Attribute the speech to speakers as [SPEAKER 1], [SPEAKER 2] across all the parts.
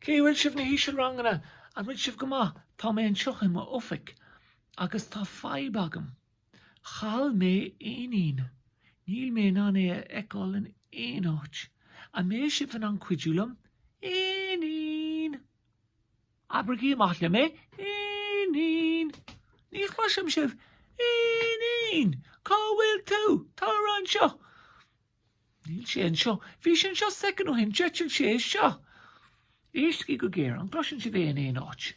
[SPEAKER 1] Cé bhfuil sibh na hísealranganna? An bhfuil sibh go maith? Tá mé anseo i m'oifig agus tá fadhb agam. Chaill mé éinín. Níl mé in ann é a fheiceáil in aon áit. An mbeidh sibh in ann cuidiú liom? Éinín! Abraigí amach liom é. Éinín! Ní chloisim sibh. Éinín! Cá bhfuil tú? Tar anseo. Níl sé anseo. Bhí sé anseo soicind ó shin. D'eitil sé anseo. Éistigí go géar. An gcloiseann sibh é in aon áit?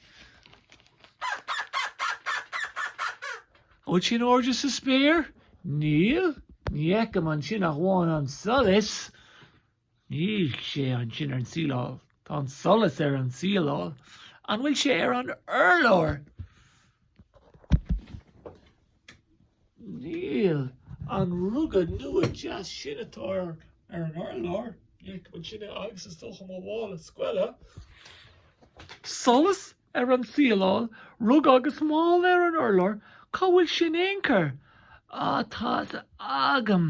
[SPEAKER 1] Bhfuil sé in airde sa spéir? Níl? Ní fheicim ansin ach amháin an solas. Níl sé ansin ar an tsíleáil. Tá an solas ar an tsíleáil. An bhfuil sé ar an urlár? Níl an ruga nua deas sin atá ar an urlár, ní fheicim ansin agus is dócha mo mhála scoile. Solas ar an tsíleáil, ruga agus mála ar an urlár, cá bhfuil sé in aon chor? Á, tá sé agam.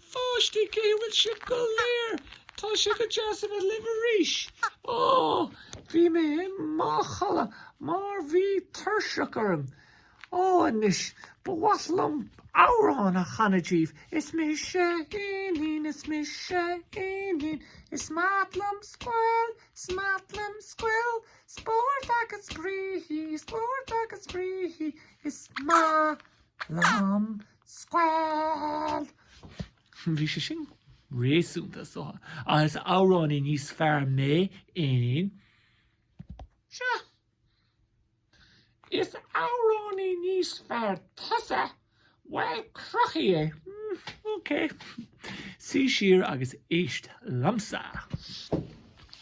[SPEAKER 1] A pháistí, cé bhfuil sibh go léir? Tá sé go deas a bheith libh arís. Ó, bhí mé i mo chodladh mar bhí tuirseach orm. Ó, anois, ba mhaith liom amhrán a chanadh díbh. Is mise Éinín, is mise Éinín, is maith liom scoil, is maith liom scoil, spórt agus spraoi, spórt agus spraoi, is maith liom scoil. Bhí sé sin réasúnta ach is amhránaí níos fearr mé, Éinín. Sea, is amhránaí níos fearr tusa, bhuel, cruthaigh é. Ok, suigh siar agus éist liomsa.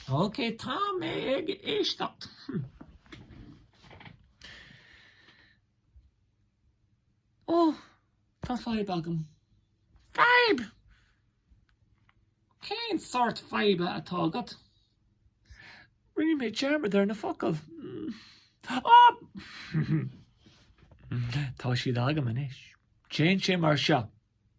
[SPEAKER 1] Ok, tá mé ag éisteacht. Ó, tá fadhb agam. Fadhb! Cén sórt faidhbe atá agat? Rinne mé dearmad ar na focail. Ó! Tá siad agam anois. Téann sé mar seo.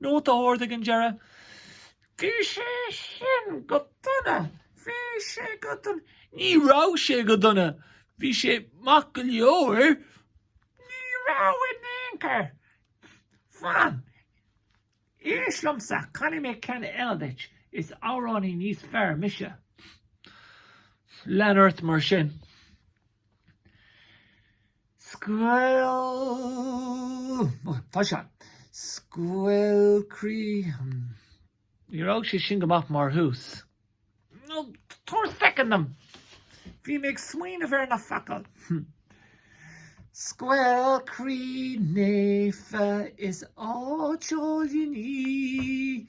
[SPEAKER 1] Nóta ard ag an deireadh. Bhí sé sin go dona, bhí sé go dona, ní raibh sé go dona, bhí sé maith go leor, ní raibh in aon chor. Fan. Éist liomsa, canfaidh mé ceann eile duit, is amhránaí níos fearr mise. Lean ort mar sin. Scoil. Tá sé. Scoil croí. Ní raibh sé sin go maith mar thús. Nó tabhair soicind dom. Bhí mé ag smaoineamh ar na focail. Scoil croí naofa is áit álainn í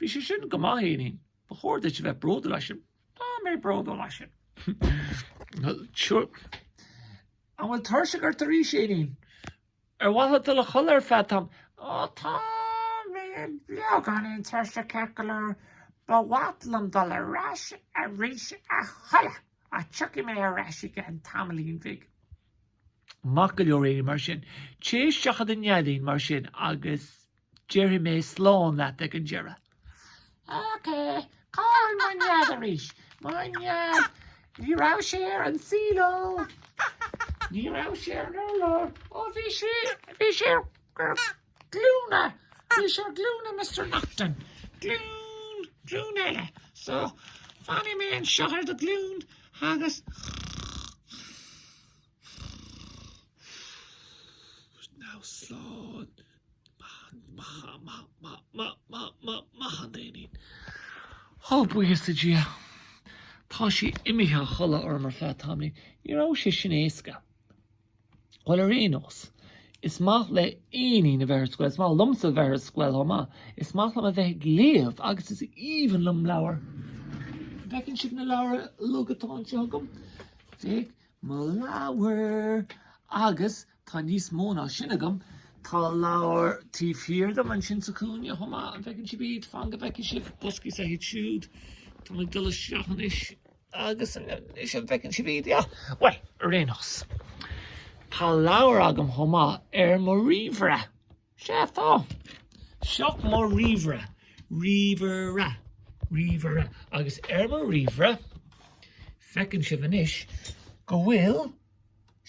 [SPEAKER 1] Bhí sé sin go maith, a Éinín. Ba chóir duit a bheith bródúil as sin. Tá mé bródúil as sin. An bhfuil tuirseach ort arís, a Éinín? Ar mhaith leat dul a chodladh ar feadh tam? Ó tá mé beagáinín tuirseach ceart go leor. Ba mhaith liom dul ar ais arís a chodladh ach tiocfaidh mé ar ais i gceann tamaillín bhig. Maith go leor, a Éinín, mar sin. Téigh isteach i do neidín, mar sin, agus Déarfaidh mé slán leat ag an deireadh. Ok, cá'il mo nead arís? Mo nead, ní raibh sé ar an síleáil, ó, ní raibh sé ar an urlár ó, bhí sé, bhí sé ar, ar glúine, bhí sé ar glúine Mister Naughton. Glún, glún eile. So, fanfaidh mé anseo ar do ghlún agus Now slán. Maith an t-éinín. Ó, buíochas le Dia, tá sí imithe a chodladh orm, ar feadh tamaill. Ní raibh sé sin éasca. Bhuel, ar aon nós, is maith le Éinín a bheith ar scoil. Is maith liomsa a bheith ar scoil chomh maith. Is maith liom a bheith ag léamh agus is aoibhinn liom leabhair. Feiceann sibh na leabhair uilig atá anseo agam? Féach mo leabhar agus Tá níos mó ná sin agam. Tá leabhar taobh thiar dom ansin sa chúinne chomh maith. An bhfeiceann sibh iad? Fan go bhfeicfidh sibh. Boscaí is ea iad siúd. Táim ag dul isteach anois agus anois an bhfeiceann sibh iad? Yeah. Bhuel, ar aon nós, tá leabhar agam chomh maith ar mo ríomhaire. Sea, tá. Seo mo ríomhaire, ríomhaire, ríomhaire, agus ar mo ríomhaire, feiceann sibh anois go bhfuil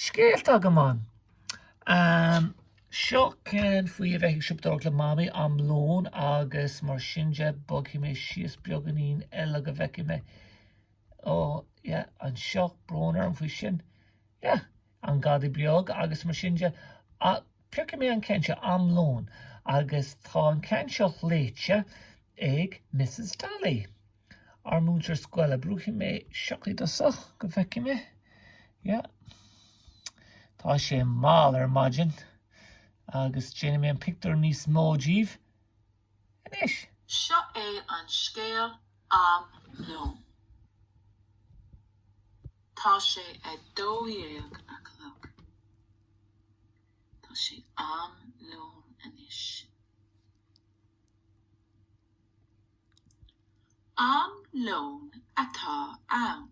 [SPEAKER 1] scéalta agam ann. Ehm, seo ceann faoi a bheith ag siopadóireacht le Mamaí, Am Lóin agus mar sin de, bogfaidh mé síos beagáinín eile go bhfeicfidh mé. Ó, yeah, anseo, brón orm faoi sin. Yeah, an Gadaí Beag agus mar sin de. Ach piocfaidh mé an ceann seo, Am Lóin. Agus tá an ceann seo léite ag Misses Daly, ár múinteoir scoile. Brúfaidh mé seo i dtosach go bhfeicfidh mé. Yeah. Tá sé mall ar maidin. Agus déanfaidh mé an pictiúr níos mó daoibh. anois. Seo é
[SPEAKER 2] an scéal am lón. Tá sé a dó dhéag a chlog. Tá sé am lón anois. Am lón atá ann.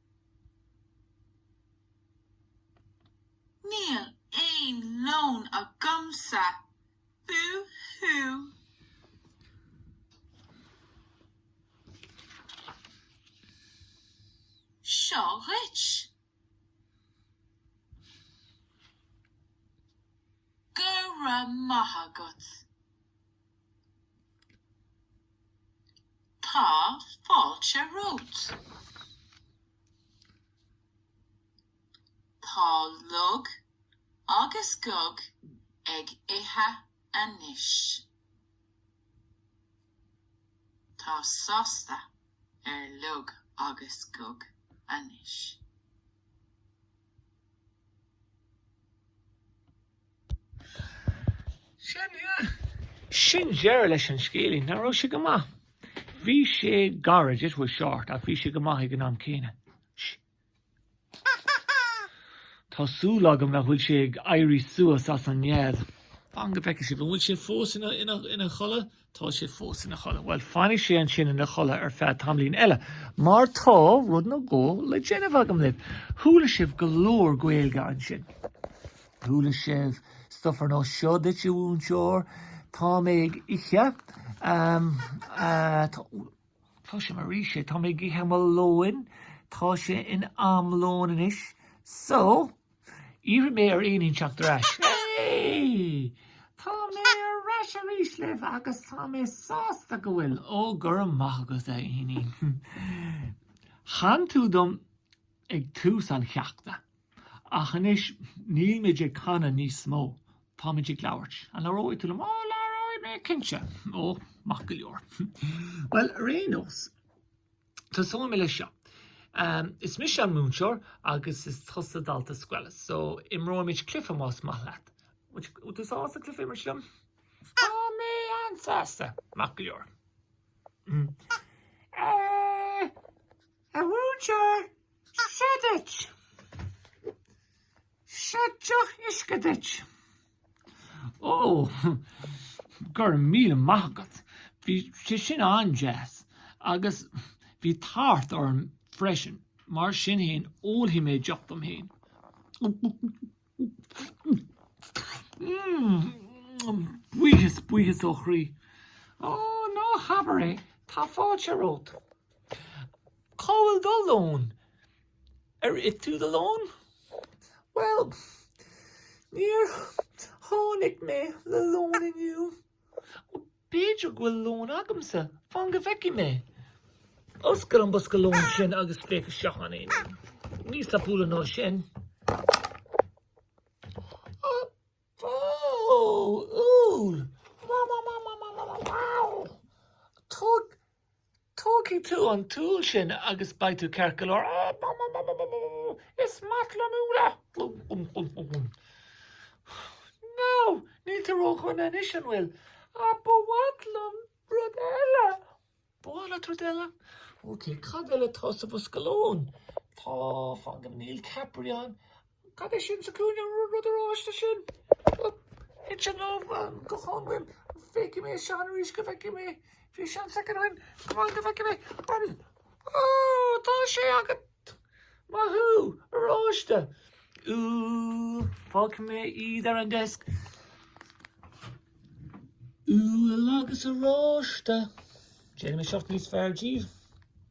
[SPEAKER 2] Níl aon lón agamsa. Bú hú! Seo dhuit. Go raibh maith agat. Tá fáilte romhat. Tá Lug agus Gug ag ithe anois. Tá áthas ar Lug agus Gug anois.
[SPEAKER 1] Sin deireadh leis an scéilín. Nach raibh sé go maith? Bhí sé gairid, it was short, ach bhí sé go maith ag an am céanna. Tá súil agam nach bhfuil sé ag éirí suas as an nead. Fan go bhfeice mé, an bhfuil sé fós ina chodladh? Tá sé fós ina chodladh. Bhuel, fanfaidh sé ansin ina chodladh ar feadh tamaillín eile, mar tá rud nó dhó le déanamh agam libh. Chuala sibh go leor Gaeilge ansin. Chuala sibh stuff ar nós seo duit, a mhúinteoir, Tá mé ag ithe. Um, uh, tá, tá sé mar rí sé, tá mé ag ithe mo lóin. Tá sé in am lóin anois. So, Iarrfaidh mé ar Éinín teacht ar ais. Hey! Tá mé ar ais arís libh agus tá mé sásta go bhfuil. Ó, go raibh maith agat, a Éinín. Chan tú dom ag tús an cheachta, ach anois nílimid ag canadh níos mó, táimid ag labhairt. An labhróidh tú liom? Ó, labhróidh mé, cinnte. Ó, maith go leor. Bhuel, ar aon nós. Tosóidh mé leis seo. Is mise an múinteoir agus is tusa dalta scoile, so imreoimid cluife más maith leat. Bhfuil tú sásta cluife a imirt liom? Tá mé an-sásta, maith go leor. A mhúinteoir, seo duit! Seo deoch uisce duit. Ó, go raibh míle maith agat, bhí sé sin an-deas agus bhí tart orm freisin, mar sin fhéin ólfaidh mé deoch dom féin. Mm, buíochas, buíochas ó chroí. Ó, ná habair é, tá fáilte romhat. Cá bhfuil do lón? Ar ith tú do lón? Bhuel, níor tháinig mé le lón inniu. Ó, b'fhéidir go bhfuil lón agamsa. Fan go bhfeicfidh mé. Oscail an bosca lóin sin agus féach isteach ann. Níos tapúla ná sin. Tógfaidh tú an t-úll sin agus beidh tú ceart go leor. Is maith liom úlla! Nó, níl tú róchiúin anois, an bhfuil? Ach ba mhaith liom rud eile! Ba mhaith leat rud eile? Ok, cad eile atá sa bhosca lóin? Tá, fan go, níl ceapairí ann Cad é sin sa gcúinne, an rud oráiste sin? Thit sé liom go ciúin. Feicfidh mé fan arís go bhfeicfidh mé. Fan second amháin go bhfeicfidh mé. Ó, tá sé agat! Maith thú, oráiste! Fágfaidh mé iad ar an desk. Úll agus oráiste. Déanfaidh mé seacht níos fearr díobh.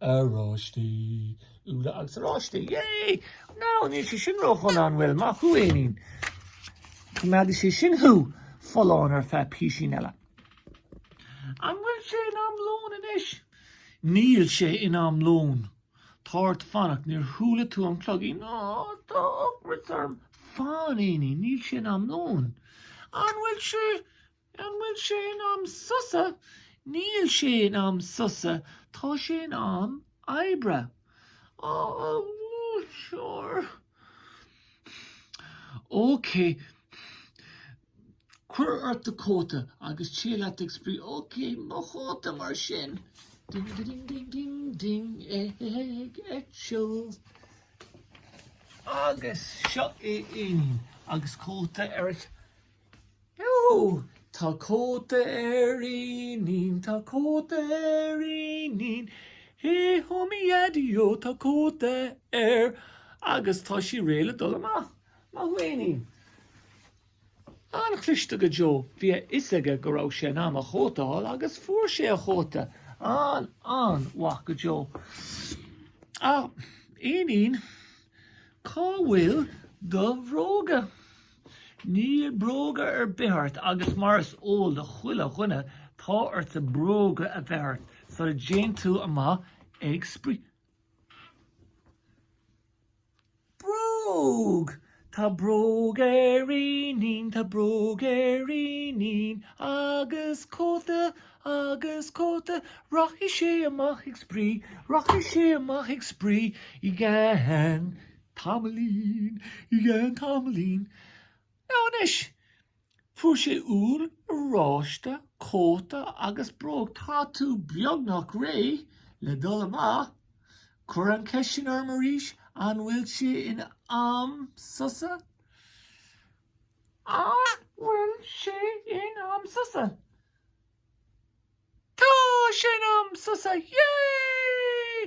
[SPEAKER 1] Oráistí, Úlla agus Oráistí, yay! Now, níl sé sin róchiúin, an bhfuil, maith thú, Éinín. Coimeádfaidh sé sin thú folláin ar feadh písín eile. An bhfuil sé in am lóin anois? Níl sé in am lóin. Tá ort fanacht, níor chuala tú an cloigín? Á, tá ocras orm. Fan, Éinín, níl sé in am lóin. An bhfuil sé? An bhfuil sé in am sosa? Níl sé in am sosa, tá sé in am oibre. Á, sure! Ócé, cuir ort do chóta agus téigh leat ag spraoi. Ócé, mo chóta mar sin! Ding a ding ding ding ding ag eitilt. Agus seo Éinín agus cóta air. Ó, tá cóta ar Éinín, tá cóta ar Éinín, hé hó mo Dhaideo tá cóta air agus tá sé réidh le dul amach. Maith thú Éinín. An-chliste go deo, bhí a fhios aige go raibh sé in am a chóta a fháil agus fuair sé a chóta. An-, an-mhaith go deo. Ach, Éinín, cá bhfuil do bhróga? Níl bróga ar bith ort agus mar is eol do chuile dhuine tá ortsa bróga a bheith ort sula dtéann tú amach ag spraoi. Bróg! Tá bróg ar Éinín, tá bróg ar Éinín agus cóta, agus cóta, rachaidh sé amach ag spraoi, rachaidh sé amach ag spraoi i gceann Tamaillín, i gceann tamaillín. Now anois! Fuair sé úll, oráiste, cóta agus bróg. Tá tú beagnach réidh le dul amach. Cuir an cheist sin orm arís, an bhfuil sé in am sosa? An bhfuil sé in am sosa? Tá sé in am sosa, yeah!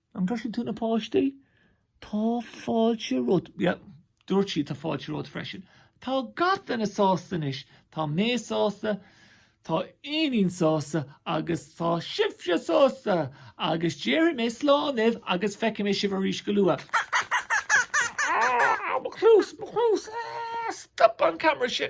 [SPEAKER 1] An gcloiseann tú na páistí? Tá fáilte romhat. Yeah, dúirt siad, tá fáilte romhat freisin. Tá gach duine sásta anois. Tá mé sásta, tá Éinín sásta agus tá sibhse sásta! Agus déarfaidh mé slán libh agus feicfidh mé sibh arís go luath. Ah, mo chluas, mo chluas! Ah, stop an camera sin!